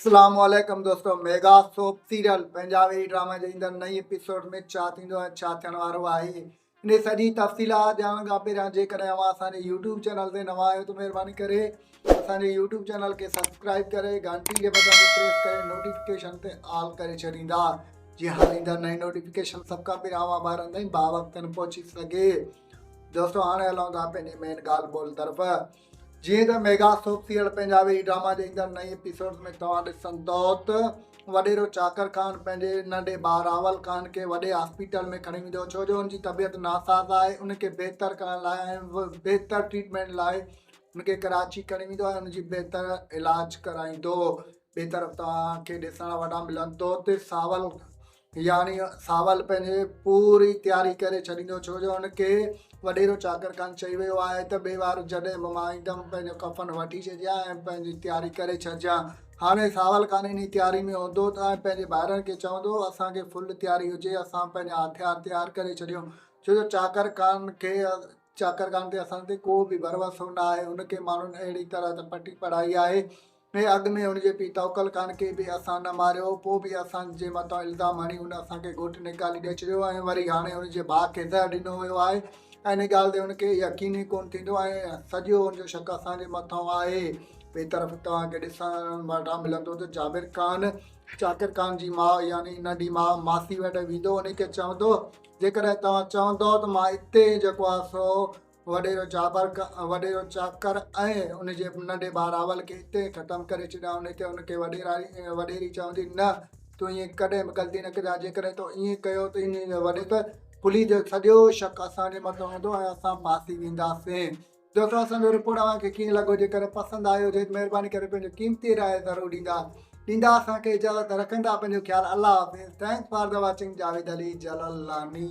اسلام عليڪم دوستو mega soap serial Punjabi drama جي ايندڙ نئين ايپيسوڊ ۾ ڇا ٿيندو ۽ ڇا ٿيڻ وارو آهي انهي سڄي تفصيلات ڄاڻڻ کان پهريان جيڪڏهن اوهان اسان جي يوٽيوب چينل تي نوان آهيو ته مهرباني ڪري اسان جي يوٽيوب چينل کي سبسڪرائب ڪري گهنٽي جي بٽن تي پريس ڪري نوٽيفڪيشن تي آل ڪري ڇڏيندا جي هر ايندڙ نئين نوٽيفڪيشن سڀ کان پهريان اوهان ٻارن تائين باوقتن پهچي سگهي دوستو هاڻي هلون ٿا پنهنجي مين ڳالهه ٻولهه طرف جيئن ته ميگا سوپ سيريل پنجابي هي ڊراما جي ايندڙ نئين ايپيسوڊز ۾ توهان ڏسندؤ ته وڏيرو چاڪر خان پنهنجي ننڍي ڀاء راول خان کي وڏي هاسپيٽل ۾ کڻي ويندو ڇو جو هن جي طبيعت ناساز آهي ان کي بهتر ڪرڻ لاء ۽ بهتر ٽريٽمينٽ لاء هن کي ڪراچي کڻي ويندو ۽ ان جي بهتر علاج ڪرائيندو ٻي طرف توهان کي ڏسڻ وٽان ملندو ته ساول يعني ساول پنهنجي پوري تياري ڪري ڇڏيندو ڇو جو هن کي وڏيرو چاڪر خان چئي ويو آهي ته ٻي وار جڏهن به مان ايندم پنهنجو ڪفن وٺي ڇڏجان ۽ پنهنجي تياري ڪري ڇڏجان هاڻي ساول خان انهي تياري ۾ هوندو ۽ پنهنجي ڀائرن کي چوندو اسان کي فل تياري هجي اسان پنهنجا هٿيار تيار ڪري ڇڏيون ڇو جو چاڪر خان کي چاڪر خان تي اسان تي ڪو به ڀروسو نه آهي هن کي ماڻهن اهڙي طرح ته پٽي پڙهائي آهي ۾ اڳ ۾ هن جي پيء توڪل خان کي به اسان نه ماريو، پوء به اسان جي مٿان الزام هڻي هن اسان کي گهوٽ نيڪالي ڏئي ڇڏيو ۽ وري هاڻي هن جي ڀاء کي زهر ڏنو ويو آهي ۽ ان ڳالهه تي هن کي يقين ئي ڪونه ٿيندو ۽ سڄو هن جو شڪ اسان جي مٿان آهي. ٻئي طرف توهان کي ڏسڻ وٽان ملندو ته جابر خان شاڪر خان جي ماء يعني ننڍي ماء ماسي وٽ ويندو انهي کي چوندو جيڪڏهن توهان چوندو ته مان اتي ئي جيڪو آهي سو وڏيرو چابرڪ، وڏيرو چاڪر ۽ ان جي ننڍي ڀاء راول کي اتي ئي ختم ڪري ڇڏيان ان تي ان کي وڏيرائي ۽ وڏيري چوندي، نه، تون ائين ڪڏهن به غلطي نه ڪجان، جيڪڏهن تو ائين ڪيو ته انهيء جي وڏي ته پليء جو سڄو شڪ اسان جي مٿان هوندو ۽ اسان ڦاسي وينداسين. دوستو اسان جو رپورٽ اوهان کي ڪيئن لڳو جيڪڏهن پسند آيو هجي ته مهرباني ڪري پنهنجو قيمتي راء ضرور ڏيندا ڏيندا اسان کي اجازت رکندا پنهنجو خيال الله حافظ thanks for the watching Javed Ali Jalalani.